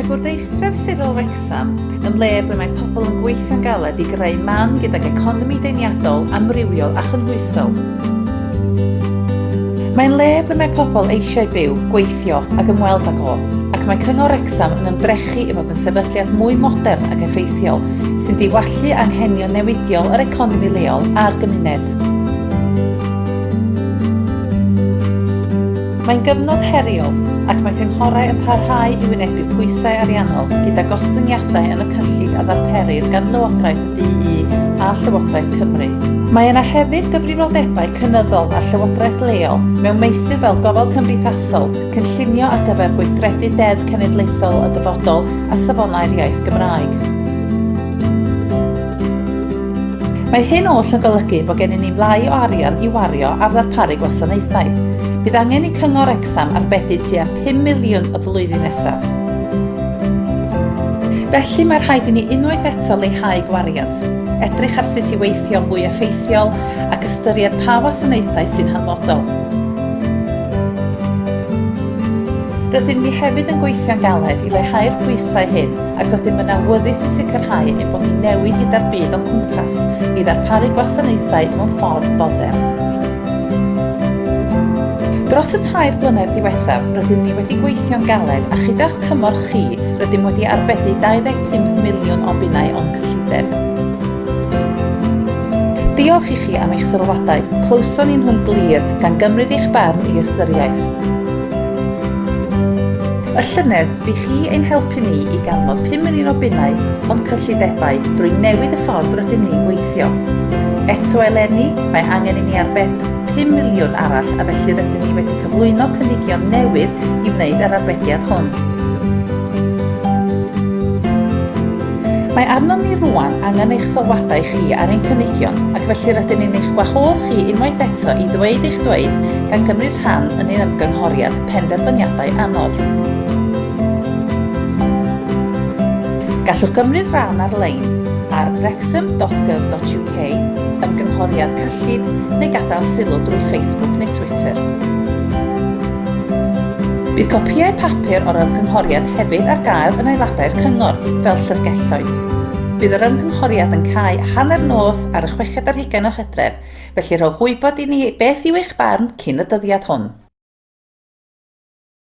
Mae bwrdeistref sirol Wrecsam yn le ble mae pobl yn gweithio'n galed i greu man gydag economi deniadol, amrywiol a chynhwysol. Mae'n le ble mae pobl eisiau byw, gweithio ac ymweld ag o, ac mae Cyngor Wrecsam yn ymdrechu i fod yn sefydliad mwy modern ac effeithiol sy'n diwallu anghenion newidiol yr economi leol a'r gymuned. Mae'n gyfnod heriol ac mae cynghorau yn parhau i wynebu pwysau ariannol gyda gostyngiadau yn y cyllid a ddarperir gan Lywodraeth y DU a Llywodraeth Cymru. Mae yna hefyd gyfrifoldebau cynyddol ar Llywodraeth leol mewn meysydd fel gofal cymdeithasol, cynllunio ar gyfer gweithredu Deddf Cenedlaethol y Dyfodol a Safonau'r Iaith Gymraeg. Mae hyn oll yn golygu bod gennym ni lai o arian i wario ar ddarparu gwasanaethau. Bydd angen i Cyngor Wrecsam arbedi tua 5 miliwn y flwyddyn nesaf. Felly mae rhaid i ni unwaith eto leihau gwariant, edrych ar sut i weithio'n fwy effeithiol ac ystyried pa wasanaethau sy'n hanfodol. Rydyn ni hefyd yn gweithio'n galed i leihau'r pwysau hyn ac rydym yn awyddus i sicrhau ein bod ni'n newid gyda'r byd o'n cwmpas i ddarparu gwasanaethau mewn ffordd fodern. Dros y tair blynedd diwethaf, rydym ni wedi gweithio'n galed a chyda'ch cymorth chi, rydym wedi arbedi 25 miliwn o bunnau o'n cyllideb. Diolch i chi am eich sylwadau, clywson ni nhw'n glir, gan gymryd eich barn i ystyriaeth. Y llynedd, Bydd chi ein helpu ni i ganfod pum yn un o bunnau o'n cyllidebau drwy newid y ffordd rydyn ni'n gweithio. Eto eleni, mae angen i ni arbed pum miliwn arall a felly rydyn ni wedi cyflwyno cynigion newydd i wneud yr arbediad hwn. Mae arnom ni rwan angen eich sylwadau chi ar ein cynigion ac felly rydyn ni'n eich gwahodd chi unwaith eto i ddweud eich dweud gan gymryd rhan yn ein ymgynghoriad. penderfyniadau anodd. Gallwch gymryd rhan ar-lein ar wrexham.gov.uk, ymgynghoriad cyllid neu gadael sylw drwy Facebook neu Twitter. Bydd copïau papur o'r ymgynghoriad hefyd ar gael yn aelodau'r Cyngor, fel llyfrgelloedd. Bydd yr ymgynghoriad yn cau hanner nos ar y chweched ar hugain o Hydref, Felly rhowch wybod i ni beth yw eich barn cyn y dyddiad hwn.